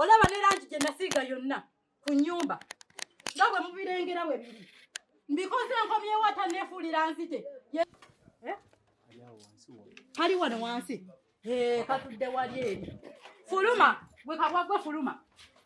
olaba ne langi gye nasiiga yonna ku nnyumba nga bwe mubirengera we biri mbikoze nkomyewo ataneefuulira nzite eh? kali wano wansi eh, katudde wali eri fuluma gwe kabwagwe fuluma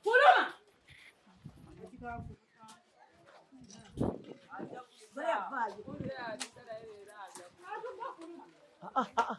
fuluma Ah, ah, ah.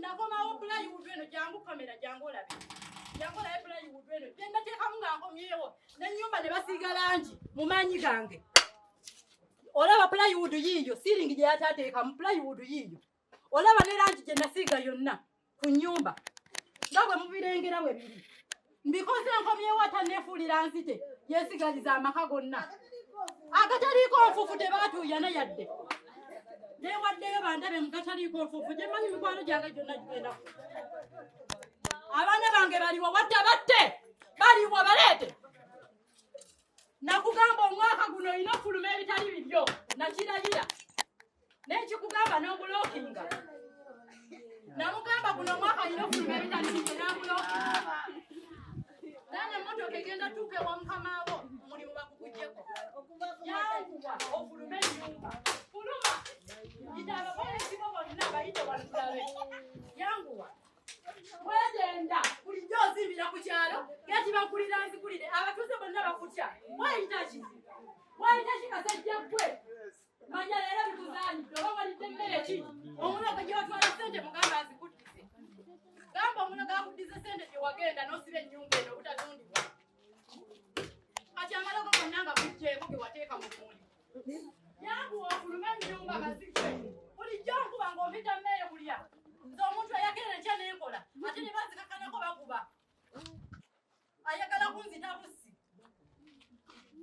nakomawo bulayi wudu eno jangu kamera jangu olabe jangu olabe bulayi wudu eno gyendateekamu nga nkomyewo nenyumba ne basiiga langi mu maanyi gange olaba plywood yiiyo siiringi gye yatateekamu plywood yiiyo olaba ne langi gye nasiiga yonna ku nyumba nga bwe mubirengera we biri mbikoze nkomyewo atanefuulira nzite yesigaliza amaka gonna agataliiko nfufu tebatuuyana yadde newaddeyo bandabe mugataliiko nfufu gyemanyi mikwano gyange gyonna gigenda abaana bange baliwo wadde batte baliwo baleete nakugamba omwaka guno olina okufuluma ebitali bibyo nakiragira nekikugamba nobulokinga namugamba guno omwaka nyina ofuluma ebitandikike nabulokinga nane emotoka egenda tuuka ewa mukama wo omulimu bakugujeko yanguwa ofulume enyumba fuluma ita abakola ekibo bonna bayite walukulabe yanguwa wegenda bulijjo ozimbira ku kyalo gekibakulira nzikulire abatuuze bonna bakutya wayitaki wayitaki kasajja gwe Manya leero bikuzaalidde oba walidde mmere ki? Omulogo gye watwala ssente mugamba azikuddize. Gamba omulogo akuddize ssente gye wagenda n'osiba ennyumba eno obutatundibwa. Kati amalogo gonna nga gujjeeko ge wateeka mu muli. Yangu ofulume ennyumba mazike. Bulijjo nkuba ng'ompita mmere kulya. Nze omuntu eyakeera enkya n'enkola ate ne bazikakanako bakuba. ayagala kunzita busi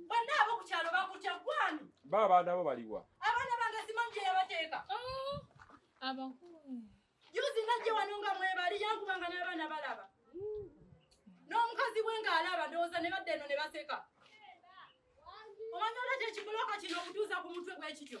banna abo ku kyalo bakutya gwani ba abaana bo baliwa abaana bange simanyi gye yabateeka oh, abakulu juzi najje wano nga mwebali yankubanga n'abaana balaba n'omukazi we ng'alaba ndowooza ne badda eno ne baseka omanya olwaki ekibuloka kino okutuuza ku mutwe gw'ekityo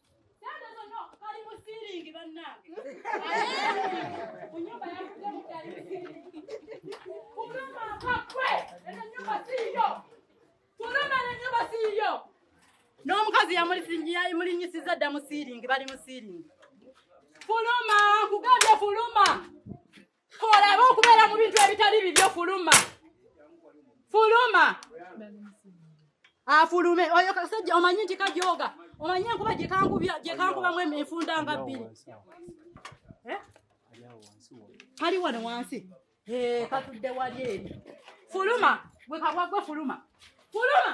n'omukazi yamulinyisiza dda mu siiringi bali mu siiringi fuluma nkugambye fuluma olaba okubeera mu bintu ebitali bibyo fuluma fuluma afulume oyo kasajja omanyi nti kajoga omanyi enkuba gyekankubamu enfunda nga bbiri eh? kali wano wansi eh, katudde wali eri fuluma gwe kabwa gwe fuluma fuluma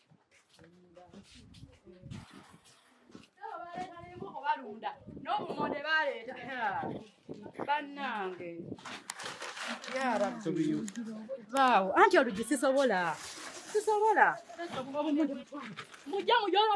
balunda n'obumonde baleeta bannange baawo anti olugi sisobola sisobola mujja mujola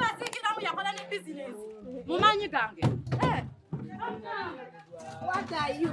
Basikiramu yakola ne bizinesi mu maanyi gange. Eh. What are you?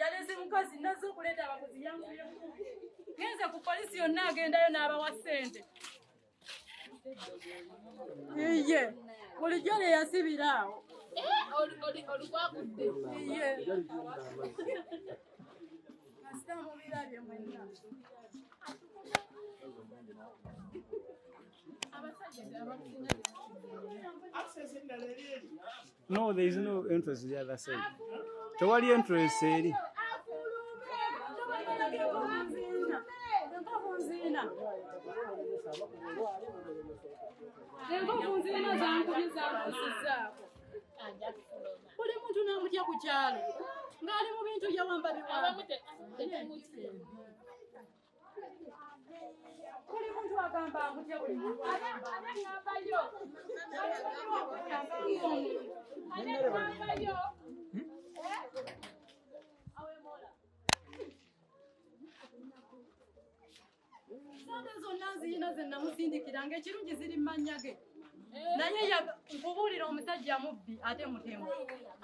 yaleze mukazi nazze okuleeta abaguzi yanguyemu genze ku polisi yonna agendayo n'abawa ssente iye bulijjo lye yasibira awo olukwagudde iye kasita mubirabye mwenna No, there is no entrance the other side. Tewali entrance eri. Buli muntu namutya ku kyalo ng'ali mu bintu yawamba biwamba. Kuli muntu agamba akutya buli muntu agamba yo. Agamba yo. Eh? Awe mola. Sente zonna nziyina ze namusindikira ng'ekirungi ziri mannya ge naye nkubuulira omusajja mubbi ate mutemu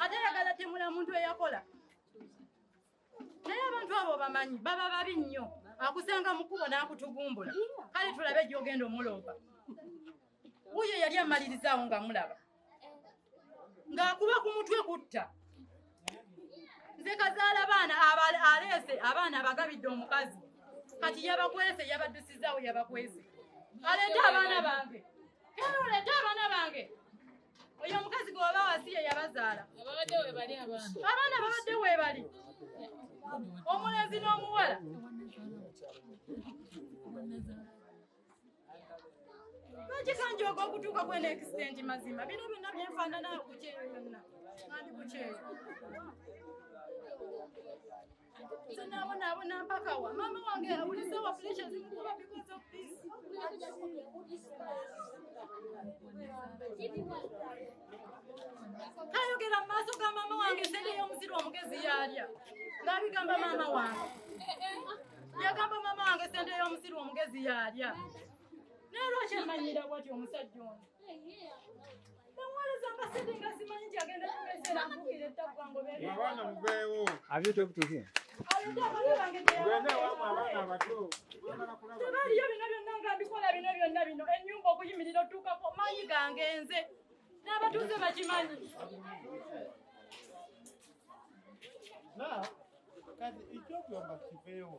ate yagala temula muntu eyakola naye abantu abo bamanyi baba babi nnyo akusanga mukubo n'akutugumbula kale tulabe gyogenda omuloopa wuyo yali amalirizaawo nga mulaba ng'akuba ku mutwe kutta nze kazaala baana aleese abaana abagabidde omukazi kati yabakwese yabaddusizaawo yabakwese aleeta abaana bange era oleeta abaana bange oyo omukazi gweoba wasiye yabazaala abaana babadde webali omulenzi n'omuwala lwaki kanjooga okutuuka kwena ekisitendi mazima bino byonna byenfaanana okukyeyo byonna nandi kukyeyo nze nabonaabona mpaka wa maama wange awulisa wa pulisha zimukuba because of this kayogera mu maaso ga maama wange sente y'omusiri omugezi yaalya ng'abigamba maama wange yagamba maama wange sente y'omusiri omugezi yaalya naye lwaki emanyira bwati omusajja ono tebaliyo bino byonna nga mbikola bino byonna bino enyumba okuyimirira otuukako manyi gange nze n'abatuuze bakimanyi Now, kati ikyogamba kiveewo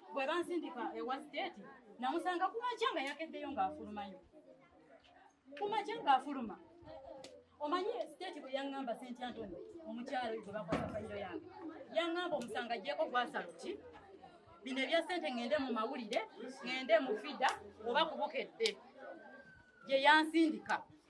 bwe bansindika ewa siteeti namusanga ku makya nga yakeddeyo ng'afulumayo ku makya ng'afuluma omanyi siteeti bwe yaŋŋamba senti antoni omukyala oyo gwe bakwata fayiro yange yaŋŋamba omusanga ajjeeko gwasalo ki bino ebya sente ŋŋende mu mawulire ŋŋende mu fida oba kubukedde gye yansindika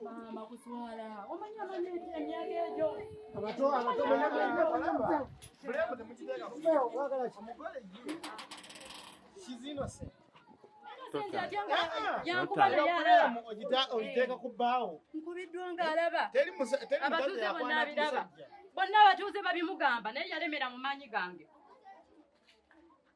Mama kuswala. Omanyi amanyi emyaka egyo. Abato abato balaba. Bulemu temukiteeka. Feo wagala ki? Omugole ye. She's innocent. Ogiteeka ku bbaawo. Nkubiddwa ng'alaba. Teri musa teri abatuuze bonna abiraba. Bonna abatuuze babimugamba naye yalemera mu maanyi gange.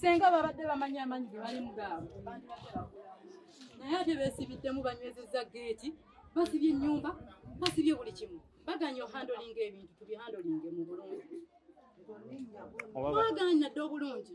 senga babadde bamanyi amanyi ge balimu gaabo naye ate besibiddemu banywezezza geeti basibye ennyumba basibye buli kimu baganye ohandolinga ebintu tubihandolinge mu bulungi baganye nadde obulungi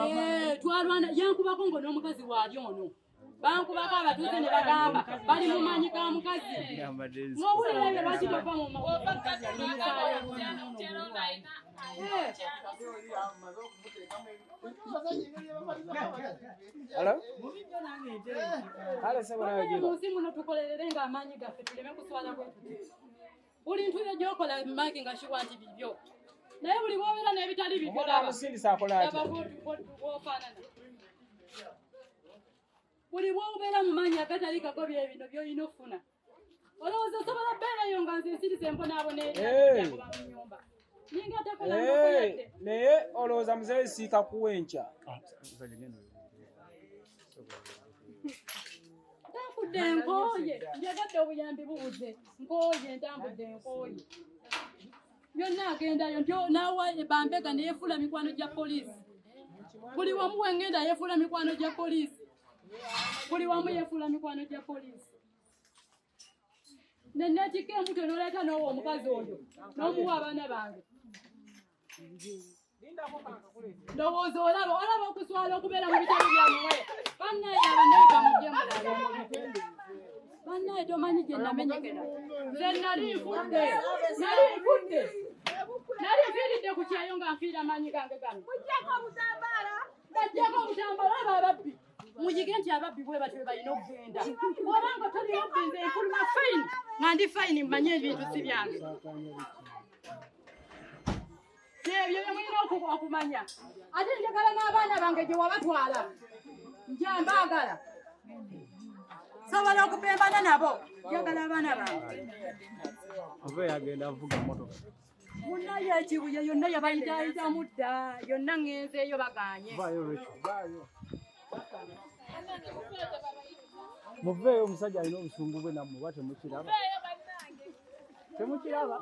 Eh, twalwana yankubako ngo n'omukazi waali ono bankubako abatuuze ne bagamba bali mu maanyi ga mukazi ng'owulira ebyo lwaki tova mu munsi muno tukolerere ng'amaanyi gaffe tuleme kuswala bwetuti buli ntuuyo gyokola magi nga kiwa nti bibyo naye buli bwobeera n'ebitali bibyoabaofaanana buli bwobeera mu manyi agatali gago byebino byolina okufuna olowooza osobola beerayo nga nze ensiriza embonaabona eyakuba mu nyumba Eh, naye olowooza muzeeyi siika kuwa enkya ntambudde nkooye njagadde obuyambi bubuze nkooye ntambudde nkooye byonna agendayo nti naawa bambega neyefuula mikwano gya poliisi buli wamu wengenda yefuula mikwano gya poliisi buli wamu yefuula mikwano gya poliisi nenakika embuto noleta nowa omukazi oyo nomuwa abaana bange ndowooza olaba olaba okuswala okubeera mu bitabo byamuwe banaye abanaiga mujemu banaye tomanyi gye namenyekera nze nali nfudde nali nfudde nali nfiiridde ku kyeyo nga nfiira maanyi gange gano bajjako obutambala abo ababbi muyige nti ababbi bwe batyo balina okugenda oba nga toli mubbi nze nfuluma fayini nga ndi fayini mmanye ebintu si byange ebyo byemulina okumanya ate njagala n'abaana bange gye wabatwala nja mbaagala sobola okupembana nabo njagala abaana bange oba yagenda avuga motoka munaye ekibuye yonna yabayitaayitamu dda yonna ŋenzeeyo baganye muveeyo omusajja alina obusungu bwe nammwe oba temukiraba temukiraba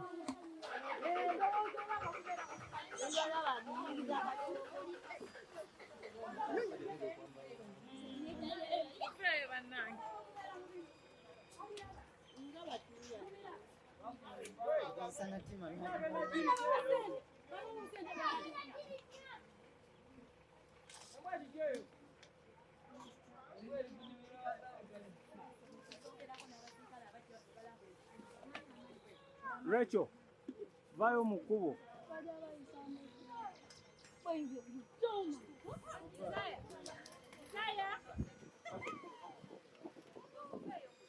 Rachel, vayo mu kkubo.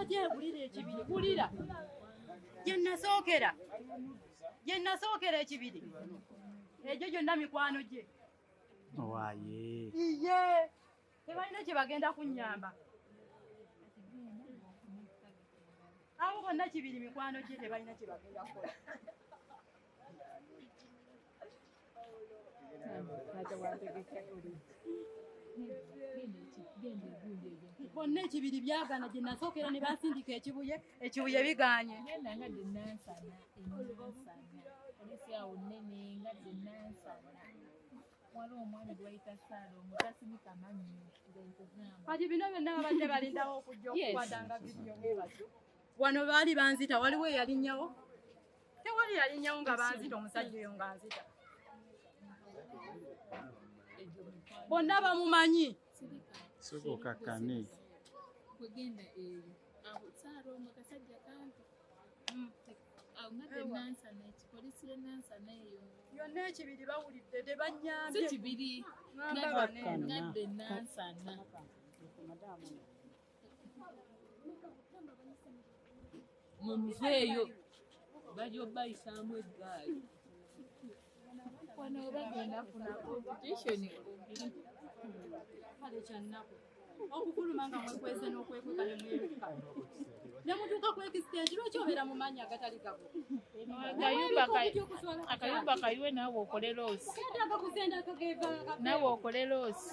ajegulira ekibiri gulira gyenasookera gyenasookera ekibiri egyo gyonna mikwano gye owaye iye tebalina kyebagenda kunyamba abo bonna kibiri mikwano gye tebalina kyebagenda kukola bonna ekibiri byagana gye nasookera ne bansindika ekibuye ekibuye biganye genda nga de nansana enansana olisi awo nnene nga de nansana wali omwami gwayita saala omutasimika manyi kati bino byonna babadde balindawo okujja okukwadanga vidiyo wano baali banzita waliwo eyalinyawo tewali yalinyawo nga banzita omusajja oyo nga nzita bonna bamumanyi sikukakkane wegenda eyo awo saara omu kasajja kampi mm. yonna ekibiri bawulidde tebanyambye mumuveeyo bali obayisaamu eggaali okufuluma nga mwekweze n'okwekweka nemweruka nemutuuka kwekisiteegi lwaki obeera mu maanyi agatali gabo akayumba kayiwe naawe okole loosi naawe okole loosi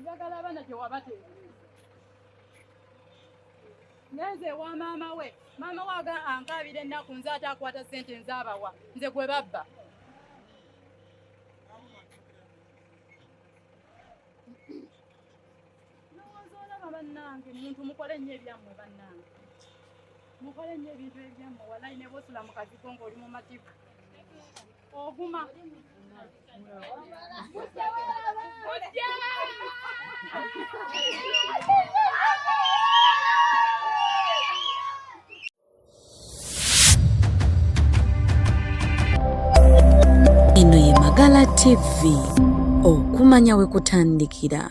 njagala abaana gye wabateebereza ngenze ewa maama we maama we aga ankaabira ennaku nze ate akwata ssente nze abawa nze gwe babba lowooza olaba bannange muntu mukole nnyo ebyammwe bannange mukole nnyo ebintu ebyammwe walayi ne bosula mu kazigo ng'oli mu matiku Oguma. Eno ye Magala TV okumanya we kutandikira.